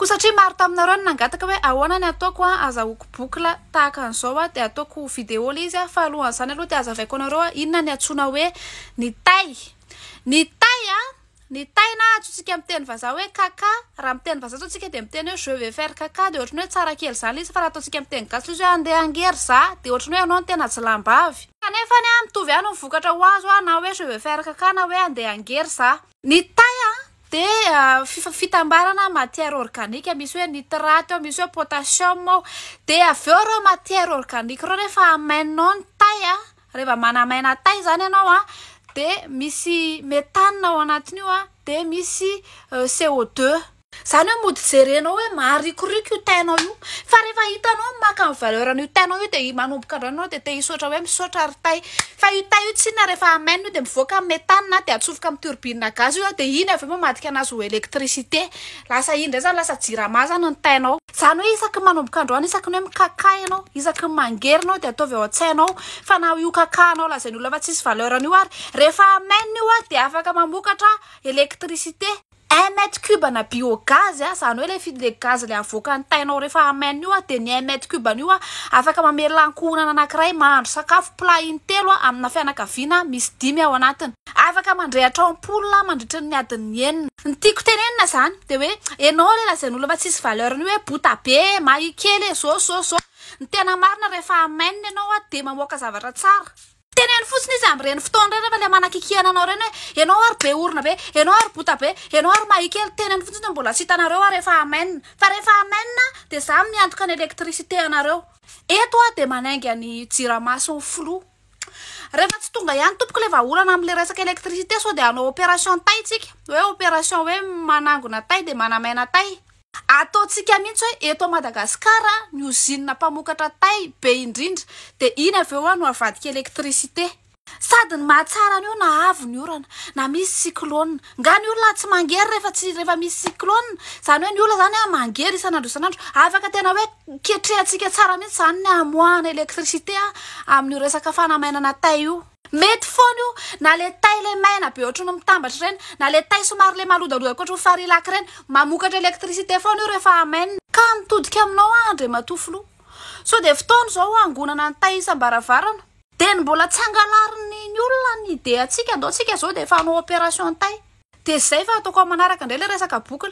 Koa satria maro taminareo no nangataka hoe ahoana ny ataoko an, azahoako boucle tahaka an'izao an, dia ataoko vidéo ilay izy an, fa alohan'izany aloha dia azavaiko anareo an, inona ny antsoina hoe ny tay? Ny tay an, ny tay na antsointsika amin'ny teny vazaha hoe kaka, raha amin'ny teny vazaha izao isika dia miteny hoe je vais faire kaka, dia ohatran'ny hoe tsara kely izany ilay izy, fa raha ataontsika amin'ny teny gasy ilay izy hoe andeha hangery za, dia ohatran'ny hoe ianao no tena ajilambavy. Kanefany an, mitovy ihany ny vokatra ho azo an, na hoe je vais faire kaka na hoe andeha hangery za. Ny tay dia fitambarana matière organique misy hoe nitrate ao, misy hoe potassium ao. Dia avy eo ireo matière organique ireo rehefa hamaininao ny tay, rehefa manamaina tay izany ianao dia misy méthane ao anatin'io dia misy CO2. Zany hoe mody jerenao hoe maharikoriko io teint-nao io. Fa rehefa hitanao maka ny valeur an'io teint-nao io dia manomboka indray ianao dia te hisaotra hoe misaotra ry tay. Fa io tay io tsinona rehefa hamainina io dia mivoaka ny méthane na dia atsofoka amin'ny turbine gaz io dia iny avy eo mamadika an'azy ho électricité. Lasa iny indray zany lasa jirama zany ny teint-nao. Zany hoe isaky ny manomboka androany isaky ny hoe mikakà ianao, isaky ny mangery ianao dia ataovy ao an-tsainao fa na io kakahanao lazain'olona fa tsisy valeur-ny io ary rehefa hamainina io dia afaka mamokatra électricité. Un mètre cube ana biogaz a, zany hoe le fi- le gaz le avoakan'ny tainao refa hameno io a, de ny un mètre cube an'io a afaka mamelona ankohonana anakiray mahandro sakafo plat intelo a amina fianakaviana misy dimy ao anatiny. Afaka mandrehatra ampoule a mandritry ny adiny enina. Ny tiako tenenina zany de hoe enao le lazain'olona fa tsisy valeur ny hoe bota be e, mahia kely e, zô zô zô. Ny tena marina refa hameno enao a de mamoaka zavatra tsara. Teneno fotsiny izy amin'ireny fotoana ireny rehefa ilay manakikihana anao ireny hoe ianao ary be orona be, ianao ary bota be, ianao ary mahia kely, teneno fotsiny no mbola tsy hitanareo ary efa amen. Fa rehefa amen aho dia izaho miantoka ny électricité anareo. Eto aho dia manainga ny jiramason'ny filoha. Rehefa tsy tonga ihany tompoko ilay vahaolana amin'ilay resaka électricité sao dia hanao opération tay isika, hoe opération hoe manangona tay dia manamaina tay. Ataontsika mihitsy hoe eto Madagasikara ny ozinina mpamokatra tay be indrindra dia iny avy eo no avadika électricité. Sady ny mahatsara an'io na avo ny orana, na misy cyclone. Nga ny olona tsy mangery rehefa tsy rehefa misy cyclone? Zany hoe ny olona zany a mangery isan'andro isan'andro. Afaka tena hoe ketrehantsika tsara mihitsy zany ny hamoahana électricité a amin'io resaka fanamainana tay io. Mety foana io na le tay le maina be ohatry ny mitambatra ireny na le tay somary le malodaloda ohatry ny farilac ireny. Mamokatra électricité foana io rehefa hamainina. Ka nitodika aminao aho Andriamatoa Filoha. Sao dia fotoana izao hangonana ny tay isam-baravarana. Dia ny mbola tsy angalarin'ny ny olona ny idée antsika ndao tsika izao dia efa hanao opération tay. Dia izay fa ataoko amin'ny manaraka indray ilay resaka boucle.